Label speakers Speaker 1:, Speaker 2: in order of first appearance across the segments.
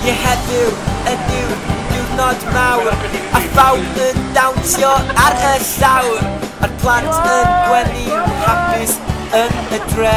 Speaker 1: Ie heddiw ydyw diwrnod mawr A phawb yn dawnsio ar y llawr A'r plant yn gwenu hapus yn y dre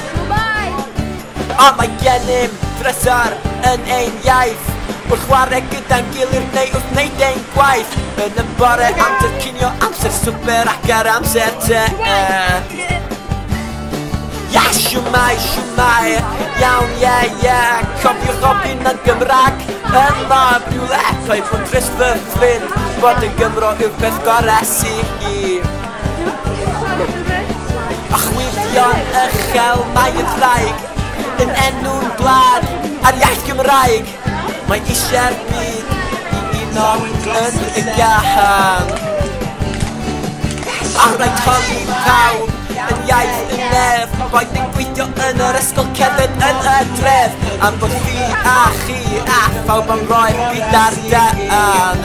Speaker 1: Shwmae! A mae gennym drysor yn ein iaith Wrth chwarae gyda'n gilydd neu wrth wneud ein gwaith Yn y bore, amser cinio, amser swper ac ar amser te Ia, shwmae, shwmae, iawn, ie, ie Cofiwch ofyn yn Gymraeg yma rhywle Rhaid fod drist fy ffrind Bod yn Gymro yw'r peth gorau sydd i Archwilio'n uchel mae y ddraig Yn enw'n gwlad a'r iaith Gymraeg Mae eisiau'r byd i uno yn y gân Ar rai codi pawb yn iaith y nef Roedd yn gweithio yn yr ysgol cefyd yn y dref Am bod fi a chi a phawb am roed fi dar dân